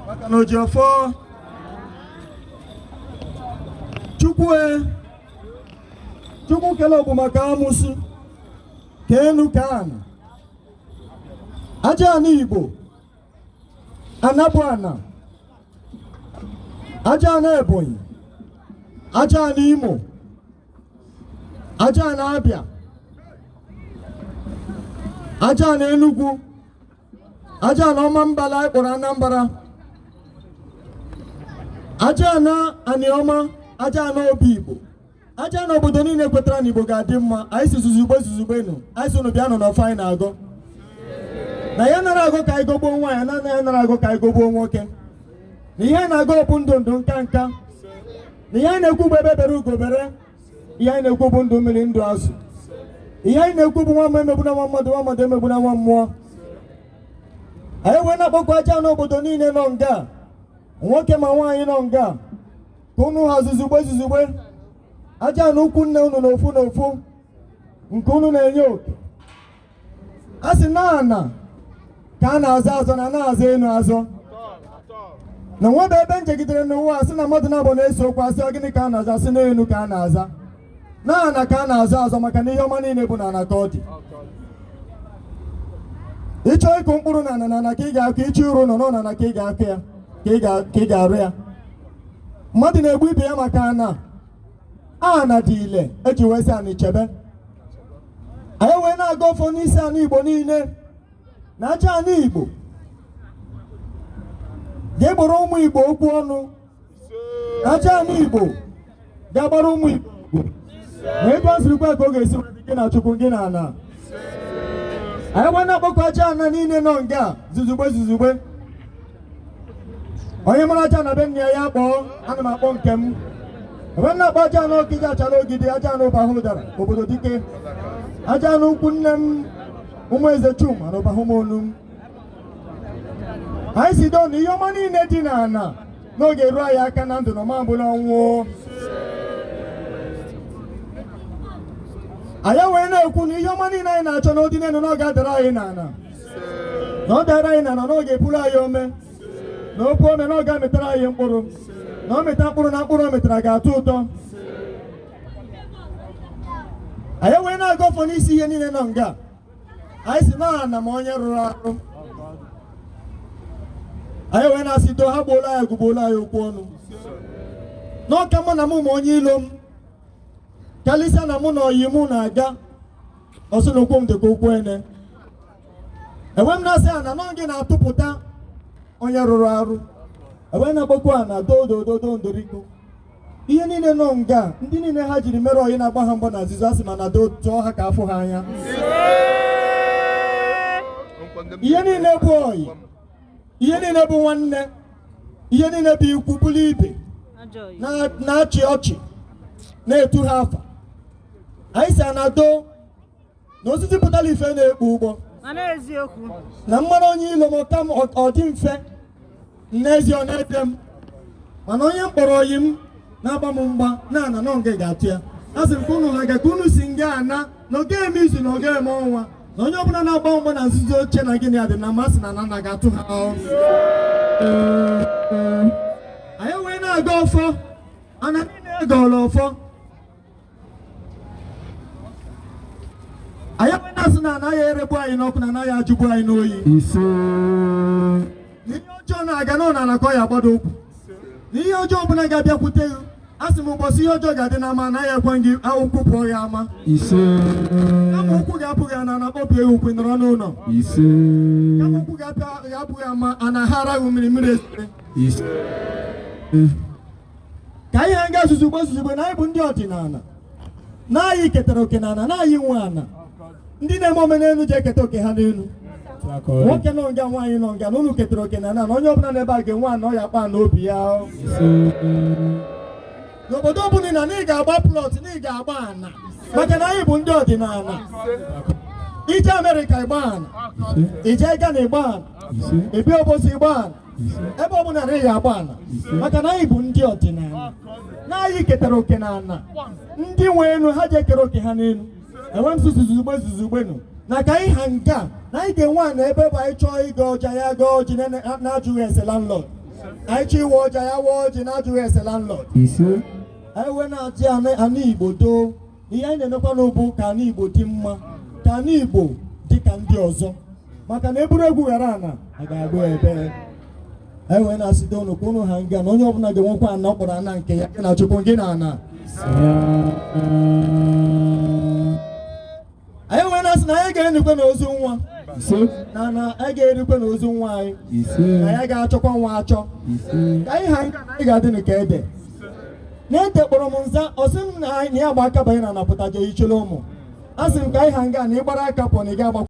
maka na ojiọfọ chukwu e, chukwu kele ogbu maka amusu ka enu ka ana aja ana igbo ana bụ ana aja ana ebonyi aja ana imo aja ana abịa aja ana enugwu aja ana Ọmambala anyị kpọrọ Anambra aja ana aniọma aja ana obi Igbo aja ana obodo niile kwetara na Igbo ga-adị mma anyị sị zuzugbe zuzugbenu anyị sị unu bịa nọ n'ọfọ anyị na-agọ na anyị anara agọ ka anyị gọgbuo nwaanyị na anyị anara agọ ka anyị gọgbuo nwoke na ihe anyị na-agọ bụ ndụ ndụ nka nka na ihe anyị na-ekwu bụ egbe bere ugo bere ihe anyị na-ekwu bụ ndụ mmiri ndụ azụ ihe anyị na-ekwu bụ nwa mmụọ emegbuna nwa mmadụ nwa mmadụ emegbuna nwa mmụọ anyị wee na-akpọku aja ana obodo niile nọ nga nwoke ma nwaanyị nọ nga ka unu ha zuzugbe zuzugbe aja ana ikwu nne unu na ofu na ofu nke unu na-enye oke a sị na ana ka a na-azọ azọ na a na-azọ enu azọ na o nwebe ebe m jegidere n'ụwa a sị na mmadụ naabọ na-ese okwu a sị ọ gịnị ka a na-azọ sị na enu ka a na-azọ na ana ka a na-azọ azọ maka na ihe ọma niile bụ na ana ka ọ dị ị chọọ ịkụ mkpụrụ na ana na ana ka ị ga-akụ ị chọọ ịrụ ụnọ na ọ na ana ka ị ga- ka ị ga-arụ ya mmadụ na-egbu ibe ya maka ana ana dị ile e ji wee sị ani chebe anyị wee na-agọ ọfọ n'isi ani igbo niile na aja ana igbo ga-egboro ụmụ igbo okwu ọnụ na aja ana igbo ga-agbara ụmụ igbo okwu. na ebe ọ sirikwa ka ọ ga-esi wee dị gị na chukwu gị na ana anyị wee na-akpọku aja ana niile nọ nga zuzugbe zuzugbe onye mara aja ana be nna ya ya kpọọ a na m akpọ nke m ebe m na-akpọ aja ana ọkịja achara ogidi aja ana ụbahụdara obodo dike aja ana ikwu nne m ụmụ eze chuma na ụbahụmọnụm anyị sị doo na ihe ọma niile dị n'ana na ọ ga-eru anyị aka na ndụ na ọ ma-abụ n'ọnwụ anyị wee na-ekwu na ihe ọma niile anyị na-achọ na ọ dị n'enu na ọ ga-adara anyị n'ana na ọ dara anyị n'ana na ọ ga-epuru anyị ome na o puo ome na ọ ga-amịtara anyị mkpụrụ na ọ mịta mkpụrụ na mkpụrụ ọ mịtara ga-atọ ụtọ anyị wee na-agọ ọfọ n'isi ihe niile nọ nga anyị sị na ana ma onye rụrụ arụ anyị wee na-asị do ha gboolu anyị ọgụ gboolu anyị okwu ọnụ na ọ ka mma na mụ ma onye ilo m karịsịa na mụ na ọyị mụ na-aga ọsị na ụkwụ m dịkwa ụkwụ ene ewee m na-asị ana na ọ gị na-atụpụta onye rụrụ arụ e wee na-akpọku ana doo doo doo ndoriko ihe niile nọ nga ndị niile ha jiri mere ọyị na-agba ha mgba na nzizo a sị m ana doo tụọ ha ka a fụ ha anya ihe niile bụ ọyị ihe niile bụ nwanne ihe niile bụ ikwu bụrụ ibe na-achị ọchị na-etu ha afa anyị sị ana doo na osisi pụtara ife na-ekpu ụgbọ na m mara onye ilo m ka m ọ dị mfe n'ezie ọ na-ete m mana onye m kpọrọ ọyị m na-agba m mgba na ana nọ nga ga-atụ ya a sị m ka unu ha nga ka unu si nga ana na ọ ga-eme izu na ọ ga-eme ọnwa na onye ọbụla na-agba mgba na nzuzo chee na gị na ya dị na mma sị na ana ga-atụ ha anyị wee na-agọ ọfọ ana niile agọrọ ọfọ anyị wee na-asị na anaghị eregbu anyị n'ọkụ na anaghị ajụgbu anyị n'oyi ise ihe ọjọọ na-aga na ana ana ka ọ ya agbado ụkwụ na ihe ọjọọ ọbụla ga-abịakwute gị a sị m ụbọchị ihe ọjọọ ga-adị n'ama anaghị ekwe gị ka ụkwụ pụọ ya ama ise kama ụkwụ ga-apụ gị ama ana kpọbie ụkwụ nọrọ n'ụlọ ise kama ụkwụ ga-apụ gị ama ana haara gị mmiri mmiri esere ise ka anyị ha nga zuzugbe zuzugbe na anyị bụ ndị ọdịnala na anyị ketara oke na ana na anyị nwe ana ndị na-eme omenelu ji eketa oke ha n'elu nwoke nọ nga nwaanyị nọ nga na unu ketara oke na ana na onye ọbụla n'ebe a ga-enwe ana ọ ya-akpọ ana obi ya n'obodo ọbụla na ị ga-agba plọt na ị ga-agba ana maka na anyị bụ ndị ọdịnala i jee Amerịka ị gbaa ana i jee Ghana ị gbaa ana i bi Obosi ị gbaa ana ebe ọ bụla na ị ya-agba ala maka na anyị bụ ndị ọdịnala na anyị ketara oke na ana ndị nwe elu ha ji ekere oke ha n'elu ewee m sị zuzugbe zuzugbenu na ka anyị ha nga na anyị ga-enwe ana ebe bụ anyị chọọ ịgọ ọjị anyị agọọ ọjị na-ajụghị ese landlord anyị chọọ ịwa ọjị anyị awaa ọjị na-ajụghị ese landlord anyị wee na-asị ana Igbo doo ihe anyị na-emekwanụ bụ ka ana Igbo dị mma ka ana Igbo dị ka ndị ọzọ maka na eburu egwu ghara ana a ga-agba ebee anyị wee na-asịte unu ka unu ha nga na onye ọbụla ga-enwekwa ana ọ kpọrọ ana nke ya gị na Chukwu gị na ana anyị wee na-asị na anyị ga-enyekwa n'ozu nwa na na anyị ga-erikwa n'ozu nwa anyị na ya ga-achọkwa nwa achọ ka anyị ha nga na anyị ga-adị ka ede na-ete kpọrọ m nza a sị m na ya gba aka banye na ana pụtaje chịrị ụmụ a sị m ka anyị ha nga na ịgbara aka pụọ na ị ga-agbakwa